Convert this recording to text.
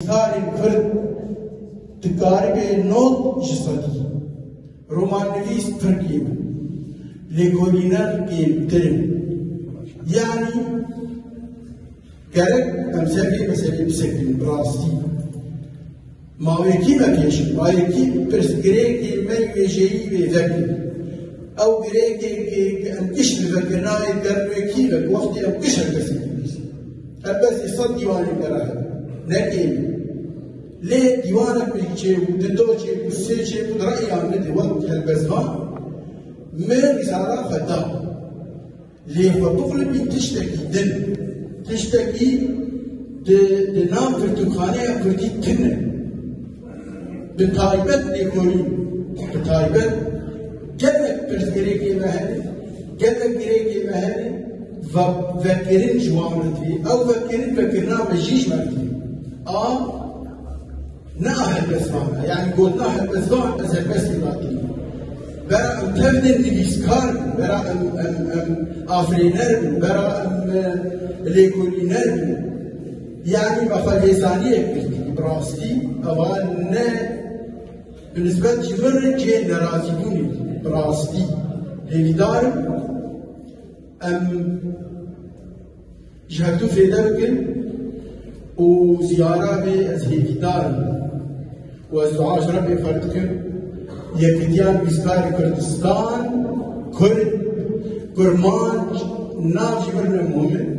Nivîskarê kurd dikaribe not ji sedî romannivîs pir kêm in, lêkolîner kêmtir in. Yanî gerek em ser vê meselê bisekinîn bi rastî. Ma wekî vekêşin, ma yekî pirsgirêkê me yê wêjeyî wê vekin. Ew girêkê ke em kişt li vekirina yê derwekî ve, wextê em kişt li kesê Helbet îsal dîwanên me re hene, ne êlî. Lê dîwanek bi yek çêbû, di do çêbû, sê çêbû re'yan min di wek helbestvan me rîzala xwe da. Lê xwe bixulibîn tiştekî din, tiştekî di di nav pirtûkxaneya kurdî tune. Bi taybet lêkolîn, bi taybet gelek pirsgirêkê me hene, gelek girêkê me hene ve vekirin ji wan re tê. Ew vekirin vekirina mejîşmer tê. A ne a helbestvan e. Yani gotina helbestvan ez helbestê nakim. Vera em tevdên divîskar bin, vera em em em afirêner bin, vera em lêkolîner bin. Yanî me xwe lêzaniyek girtî ku bi rastî eva ne bi nisbet jî min re cihê nerazîbûnê bû. Bi rastî hêvîdar im em ji hev du fêde bikin û ziyara vê ez hêvîdar im û ez dua ji Rebbê xwe dikim yekitiya nivîskarê Kurdistan, Kurd, Kurmanc nav jî min re muhim in.